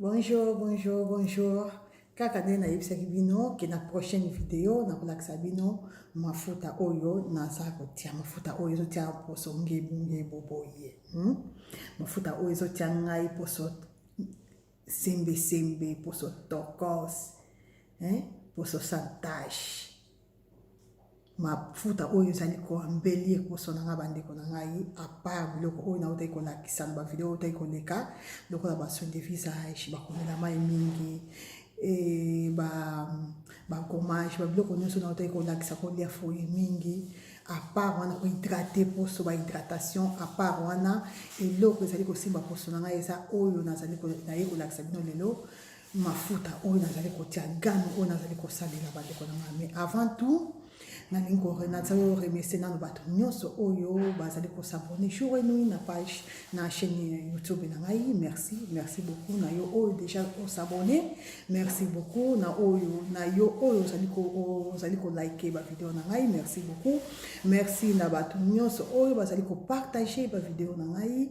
Bonjour, bonjour, bonjour. Kaka nde nayebisaki bino ke na prochaine video nakolakisa bino mafuta oyo naza kotia mafuta oyo ezotia poso ngebu ngebu boye hmm? mafuta oyo ezotia ngai poso sembe sembe poso tokos eh? poso santage mafuta oyo ezali koambeli ekoso na ngai bandeko na ngai apart biloko oyo nautaki kolakisa na bavideo oyo otaki koleka lokola basoin de visage bakomela mai mingi e bagommage ba babiloko nyonso nautaki kolakisa kolia foye mingi apart wana kohydrate poso bahydratation apart wana eloko ezali kosimba poso na ngai eza oyo nazali naye kolakisa bino lelo mafuta oyo nazali kotia game oyo nazali kosalela bandeko na ngai mais avant tout nalingi nazali oremese nano bato nyonso oyo bazali kosabone jour enui na page na chaîne youtube na ngai merci merci beaucoup na yo oyo déjà osabone merci beaucoup na oyo na yo oyo ozali kolike bavideo na ngai merci beaucoup merci na bato nyonso oyo bazali kopartage bavideo na ngai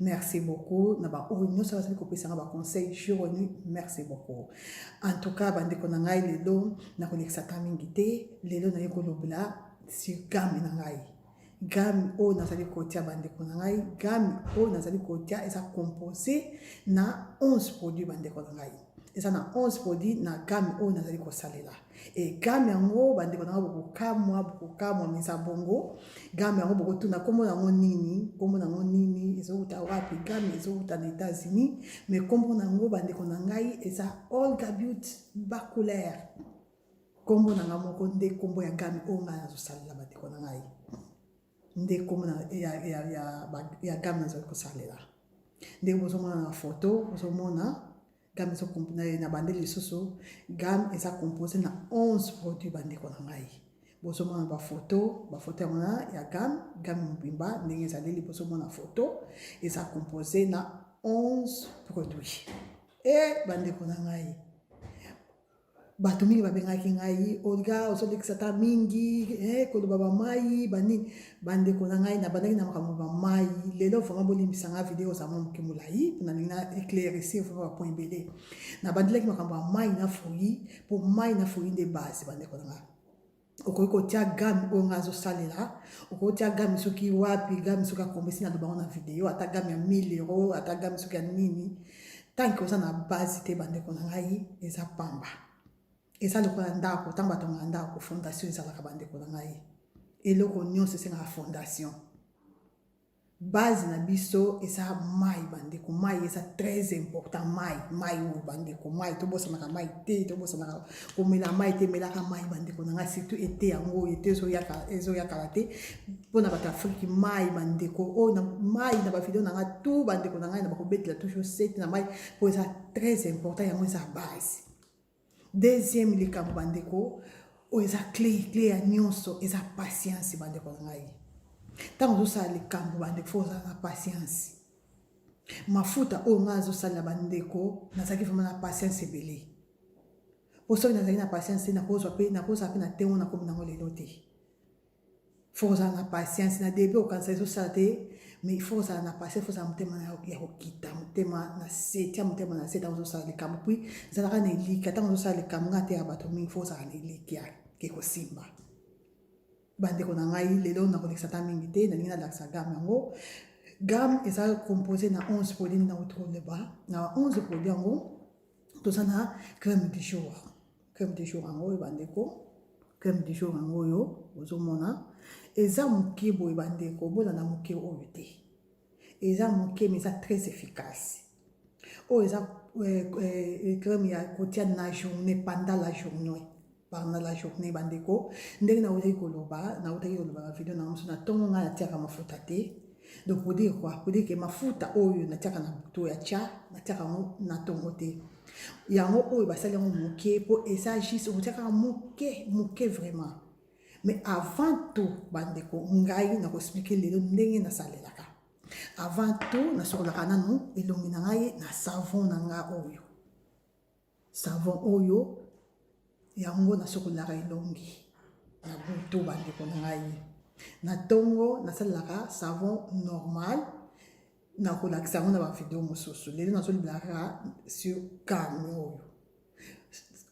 Merci beaucoup na ba oyo nyonso bazali kopesanga ba conseil jour nu merci beaucoup en tout cas bandeko na ngai lelo nakolekisa ta mingi te lelo naye kolobela sur game na ngai game oyo nazali kotia bandeko na ngai game oyo nazali kotia eza compose na 11 produit bandeko na ngai eza na 11 produit na game oyo nazali kosalela e game yango bandeko na yango bokokamwa bokokamwa meza bongo game yango bokotuna nkombo na yango nini nkombo na yango nini ezowuta wapi game ezowuta na états-unis mais nkombo na yango bandeko na ngai eza olga but bacouleur nkombo na ngai moko nde nkombo ya game oyo ngai nazosalela bandeko na ngai nde nkombo ya, ya, ya, ya game nazali kosalela ndenge bozomona na foto bozomona game na bande lisusu game eza compose na 11 produit bandeko na ngai bozomona bafoto bafoto yango na ya game game mobimba ndenge ezali liboso mona foto eza compose na 11 produit e bandeko na ngai bato mingi babengaki ngai olga ozolekisa ta mingi eh, koloba bamai banini bandeko na ngai nabandaki na makambo bamai lelo vraimen bolimbisa ngai video oza mwa moke molai mpona lingi na éclaircir vraimen bapoint ebele nabandelaki makambo ya mai na fruit mpo mai na fruit nde base bandeko na ngai okoki kotia game oyo ngai azosalela okoki tia game soki wapi game soki akomisi na lobango na video ata game ya 1000 euro ata game soki ya nini tanke oza na base te bandeko na ngai eza pamba eza lokola ndako ntango batongaka ndako fondation ezalaka bandeko na ngai eloko nyonso esengaka fondation base na biso eza mai bandeko mai eza très important mai mai oyo bandeko mai tobosanaka mai te tobosanaka komela mai te melaka mai bandeko na ngai surtout ete yango oyo ete ezoyakala te mpona bato afriki mai bandeko oyo na mai na bavideo na ngai tu bandeko na ngai na bakobetela toujours sete na mai mpo eza très important yango eza base Deuxième likambo bandeko oyo eza cle cle ya nyonso eza patience bandeko na ngai ntango ozosala likambo bandeko fo ozala na patience mafuta oyo ngai azosalela bandeko nazalaki vraimen na patience ebele mpo soki nazalaki na patience te nakozwa mpe nakozala mpe na ntemgo nakomi nango lelo te faut kozala na patience na debut okanisa ezosala te mais faut kozala na patience faut ozala motema ya kokita motema na se tia motema na se ntango ozosala likambo puis zalaka na elikia ntango ozosala likambo nga te ya bato mingi faut ozala na elikia ke kosimba bandeko na ngai lelo nakolekisa ta mingi te nalingi nalakisa game yango game eza compose na 11 produit na autour de ba na 11 produit yango toza na crème du jour Crème du jour yango oyo bandeko, crème du jour yango oyo ozomona eza moke boye bandeko, bolanda moke oyo te, eza moke mais eza très efficace. Oyo eza euh, euh, crème ya kotia na journée pendant la journée pendant la journée bandeko, ndenge nautaki koloba, nautaki koloba ba video na mosusu na ntongo ngai natiaka mafuta te donc pour dire quoi pour dire que mafuta oyo natiaka na butu ya tya natiaka yango na ntongo te yango oyo basali yango moke mpo eza juste okotiakaka moke moke vraiment mais avant tout bandeko ngai nakoexplike lelo ndenge nasalelaka avant tout nasokolaka nanu elongi na ngai na savon na ngai oyo Savon oyo yango nasokolaka elongi na butu bandeko na ngai. Na ntongo nasalelaka savon normal nakolakisa yango na bavideo mosusu lelo nazolobelaka sur kame oyo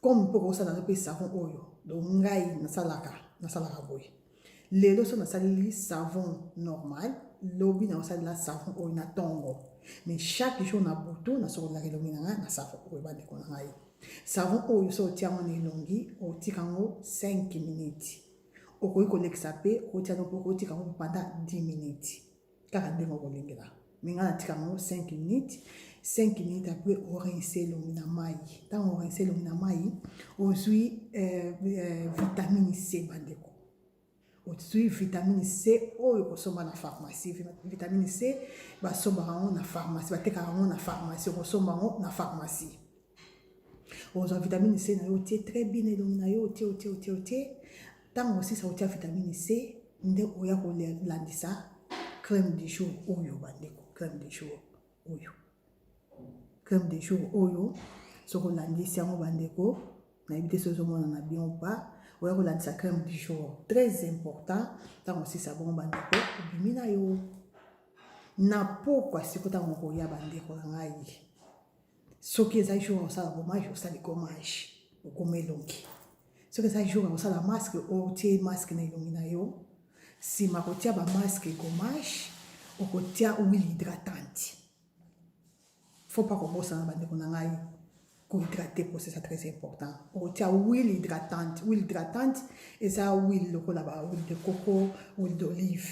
comme mpo kosala mpe savon oyo donc ngai nasalaka nasalaka boye lelo so nasaleli savon normal lobi nakosalela savon oyo na ntongo mais chaque jour na butu nasokolelaka elongi na ngai na savon oyo bandeko na ngai savon oyo so otia yango na elongi otika yango 5 minutes okoki kolekisa mpe okotia yango mpe okotika yango mpanda 10 minutes kaka ndenge okolingela me ngai natika yango 5 minutes 5 minutes apres orinse elongi na mai ntango orinse elongi na mai ozwi eh, eh, vitamine c bandeko ozwi vitamine c oyo okosomba na pharmacie vitamine c basombaka yango na pharmacie batekaka yango na pharmacie okosomba yango na pharmacie ozwa vitamine c na yo otie très bien na elongi na yo otie otie otie otie ntango osisa otia vitamine c nde oya kolandisa crème du jour oyo bandeko crème du jour oyo crème du jour oyo soki olandisi yango bandeko nayebi te soki ozomona na bien ou pas oya kolandisa crème du jour très important ntango osisa bongo bandeko obimi na yo na pokwa siko ntango okoya bandeko na ngai soki eza jour ya kosala gommage osali gommage okoma elongi soki eza jour ya kosala masque otie masque na elongi na yo nsima kotia bamasque gommage okotia huile hydratante faut pas kobosana bandeko na ngai kohydrate po c'est ça très important okotia huile hydratante huile hydratante eza huile lokola ba huile de coco huile d'olive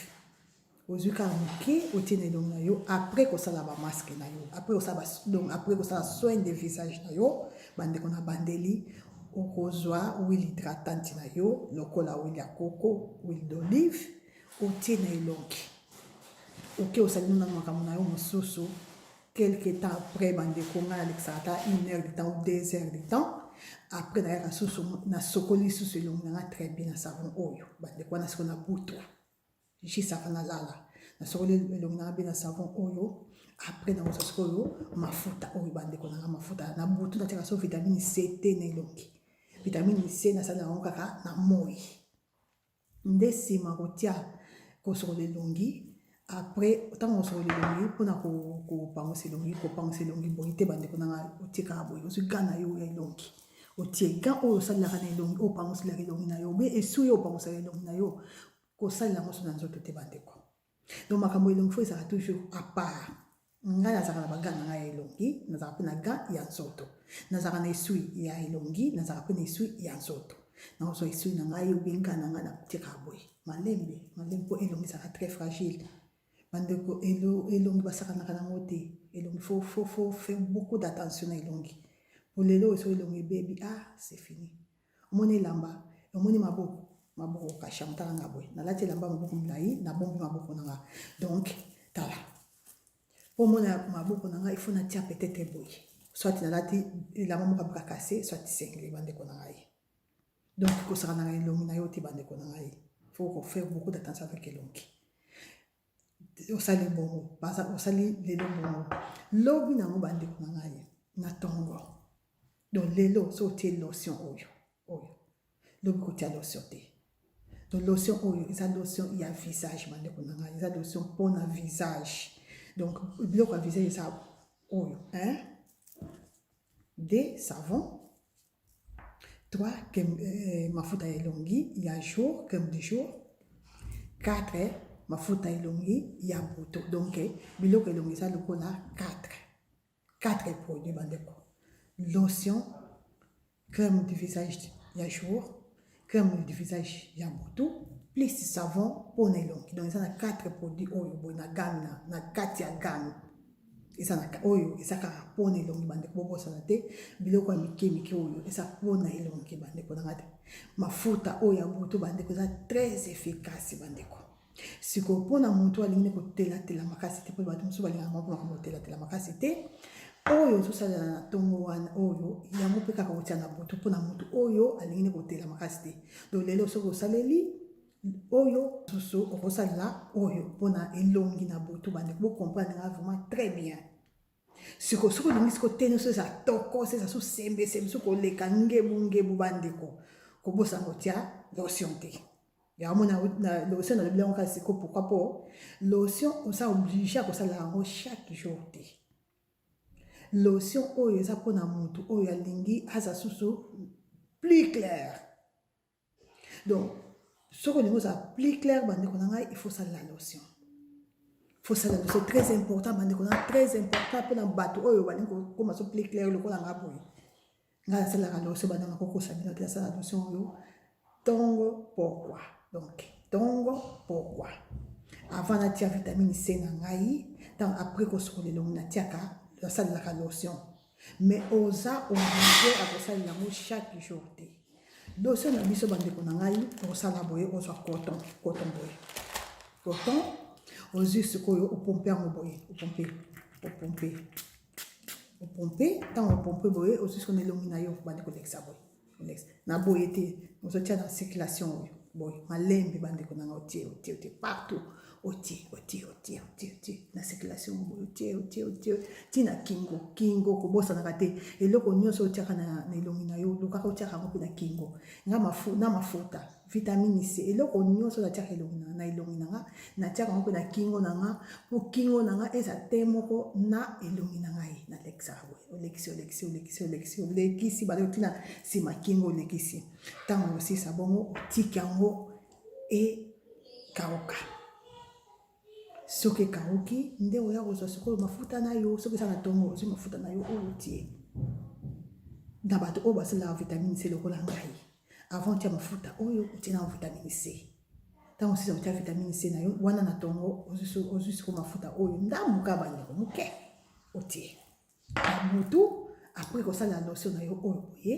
ozwi kaka moke otie na elongi na yo après kosala bamaske na yo donc après kosala soin de visage na yo bandeko na bandeli okozwa huile hydratante na yo lokola huile ya koko huile d'olive otie na elongi oke osali nuna makambo na yo mosusu quelque temps après bandeko ngai nalekisaka ata une heure de temps ou deux heures de temps après nayaka susu nasokoli susu elongi na ngai très bien na savon oyo bandeko wana siko na butwa jisaka nalala nasokoli elongi nanga mpe na savon oyo apres nakosa sikoyo mafuta oyo bandeko nanga mafuta na butu natiaka so vitamine c te na elongi vitamine c nasali yango kaka na moi nde nsima kotia kosokola elongi apres ntango kosokola elongi mpona kopangusa elongi kopangusa elongi boye te bandeko nanga otikaka boye ozwi ga na yo ya elongi otie ga oyo osalelaka na elongi oyo opanguselaka elongi na yo obe esu oyo opangusaka elongi na yo kosalela yango so na nzoto te bandeko donc makambo elongi fo ezalaka toujours apart ngai nazalaka na baga na ngai ya elongi nazalaka mpe na ga ya nzoto nazalaka na esui ya elongi nazalaka mpe na esui ya nzoto nakozwa esui na ngai obenga na ngai natika boye malembe malembe mpo elongi ezalaka très fragile bandeko elongi basakanaka nango te elongi fo fo fo fait beaucoup d'attention na elongi po lelo oyo so elongi ebebi ah c'est fini omoni elamba omoni maboko maboko okasha motala nga boye nalati elamba maboko molai nabombi maboko na nga donc tala po omona maboko na nga ifo natia petete boye soit nalati elamba moko abika kase soit sengeli bandeko na ngai donc kosaka na elongi na yo te bandeko na ngai faut ko faire beaucoup d'attention avec elongi osali bongo osali lelo bongo lobi na yango bandeko na ngai na tongo donc lelo so otie lotion oyo oyo lobi kotia lotion te donc lotion oyo eza lotion ya visage bandeko na ngai eza lotion mpo na visage donc biloko ya visage eza oyo hein de savon 3 crème euh, mafuta ya elongi ya jour crème du jour 4 mafuta ya elongi ya butu donc biloko elongi eza lokola 4 4 produit bandeko lotion crème du visage ya jour crème du visage ya butu plus savon mpo na elongi donc eza na 4 produit oyo boye na game na, na kati ya game eza na oyo eza kaka mpo na elongi bandeko bobosana te biloko ya mike mike oyo eza mpo na elongi bandeko nanga te mafuta oyo ya butu bandeko eza très efficace bandeko sikoyo mpona motu alingi kotelatela makasi te mpo bato mosusu balingaka moko makambo kotelatela makasi te oyo ozosalela na ntongo wana oyo yango mpe kaka kotya na butu mpona motu oyo alingi kotela makasi te do lelo soki osaleli oyo susu okosalela oyo mpona elongi na butu bande bokomprendre nga vraiment très bien siko soki olingi siko teni so eza tokos eza so sembesembe so koleka ngebungebu bandeko kobosana kotya lotion te yango mona lotion nalobi yango kaka siko pourkui mpo lotion oza oblige ya kosala yango chaque jour te lotion oyo eza mpona motu oyo alingi aza susu plus claire donc soki olingi ozala plus clair bandeko na ngai il faut salela lotion faut salela lotion très important bandeko na très important mpona bato oyo balingi kokoma so plus clair lokola ngai boye ngai nasalelaka lotion bandeko nakokosa bino te nasala lotion oyo ntongo pourquoi donc ntongo pourquoi avant natia vitamine c na ngai ntango après kosokola elongi natiaka nasalelaka lotion mais oza oblige ya kosalela yango chaque jour te dosie na biso bandeko na ngai osala boye ozwa coton coton boye coton ozwi sikoyo opompe yango boye opompe opompe opompe ntango opompe boye ozwi sikoyo na elongi na yo bandi kolekisa boye na boye te ozotia na circulation oyo boye malembe bandeko nanga otie otie otie partout otie otie otie otie otie na circulation boye otie otie otie ti na kingo kingo kobosanaka te eloko nyonso otiaka na elongi na yo lokaka otiaka yango mpe na kingo na mafuta vitamini c eloko nyonso natiaka elongi na na elongi na nga natiaka yango mpe na kingo na nga mpo kingo na nga eza te moko na elongi na ngai nalekisaka boye olekisi olekisi olekisi olekisi olekisi bale otina nsima kingo olekisi ntango mosisa bongo otiki yango ekauka soki ekauki nde oya kozwa sikoyo mafuta na yo soki eza na ntongo ozwi mafuta na yo oyo otie na bato oyo basalelaka vitamine c lokola ngai avant otya mafuta oyo otie na vitamine c ntango osisa kotya vitamine c na yo wana na ntongo ozwi siko mafuta oyo ndambuka bandeko moke otie na mutu après kosala lotion na yo oyo boye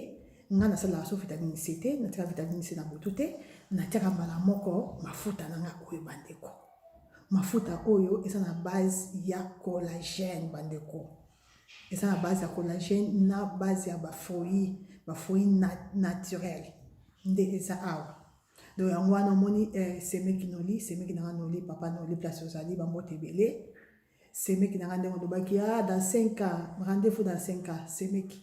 ngai nasalaka so vitamine c te natiaka vitamine c na butu te natiaka mbala moko mafuta na ngai oyo bandeko mafuta oyo eza na base ya collagène bandeko eza na base ya collagène na base ya bafruit bafruit naturel nde eza awa donc yango wana omoni eh, semeki noli semeki nanga noli papa noli place ozali bambote ebele semeki na nga ndenge olobaki a ah, dans 5 ans rendez-vous dans 5 ans semeki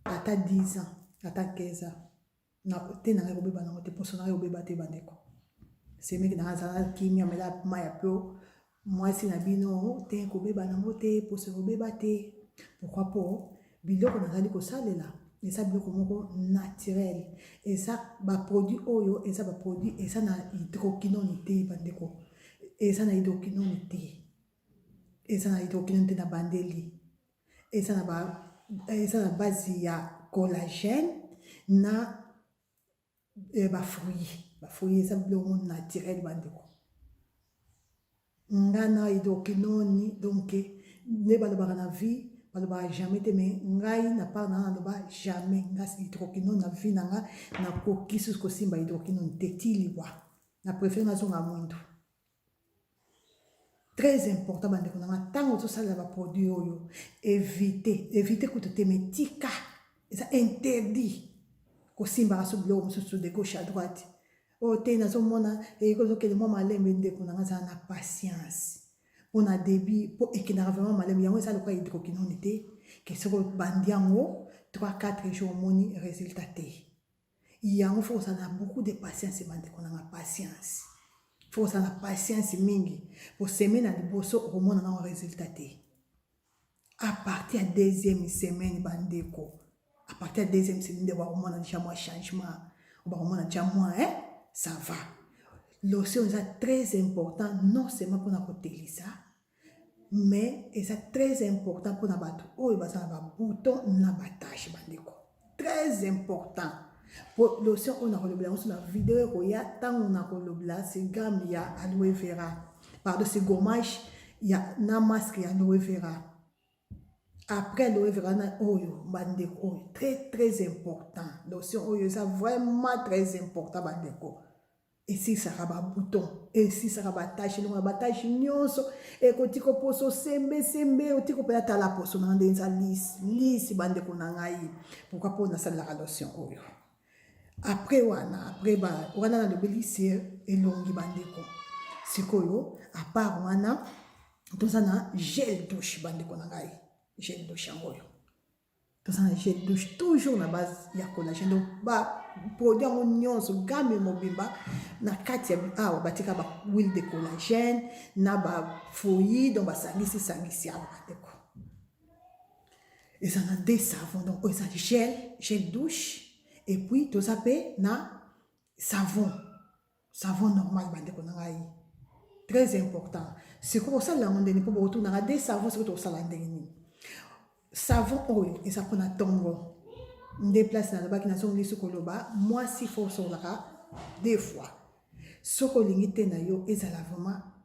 ata 10 ans ata 15 ans te na ngai kobeba nango te mposo na ngai kobeba te bandeko semeki na ngai azala kimia mela mai ya pio mwasi na bino te kobeba nango te mposo kobeba te pourkui mpo Biloko nazali kosalela eza biloko moko naturel eza baproduit oyo eza baproduit eza na hydroquinone te bandeko eza na hydroquinone te eza na hydroquinone te na bandeli eza na ba eza na base ya collagène na eh, ba fruits ba fruits eza biloko naturel bandeko nga na edoki noni donc nde balobaka na vie balobaka jamais te mais ngai na part na naloba jamais nga hydroquinone na vie na nga nakoki susu kosimba hydroquinone te ti liwa na préfère nazonga mwindu très important bandeko na nga ntango ozosalela baproduit oyo evite evite kutu te metika eza interdit kosimbaka so biloko mosusu de gauche à droite oyo oh, te nazomona ekozokende mwa malembe ndeko na nga azala na patience mpo na début mpo ekendaka vraiment malembe yango eza lokola hydroquinone te ke soki obandi yango 3 4 jour omoni résultat te yango fo kozala na beaucoup de patience bandeko na nga patience fo kozala na patience mingi poseme na liboso okomona nango resultat te à partir ya deuxième semaine bandeko à partir ya deuxième semaine nde bakomona deja mwa changement bakomona deja mwa eh? ça va lotion eza très important non seulement mpona kotelisa mais eza très important mpona bato oyo baza na babouton na batache bandeko très important mpo lotion oyo nakolobela yango so na video ekoya ntango nakolobela segame ya aloe vera pardon segomage ya na masque ya aloe vera après aloe vera na oyo bandeko oyo très très important lotion oyo eza vraiment très important bandeko esilisaka babuton esilisaka batache elongola batache nyonso ekotika poso sembesembe otika mpe atala poso na ndenge eza lisi lisi bandeko na ngai pourkui mpo nasalelaka lotion oyo apres wana apres ba wana nalobeli se elongi bandeko sikoyo apart wana toza na gel douche bandeko na ngai gel douche yango oyo toza na je douche toujours na base ya collagène donc baproduit yango nyonso game mobimba na kati ya awa batika bahuile de collagène na bafoyi donc basangisi sangisi awa bandeko eza na de savon donc oyo eza gel gel douche epuis toza mpe na savon savon normal bandeko na ngai très important sikoyo osalela yango ndenge mpo bokotunaka de savon sikoyo tokosala ndenge nini savon oyo eza mpona ntongo nde place nalobaki nazongisi koloba mwasi fo osololaka deux fois soki olingi te na yo ezala vraiment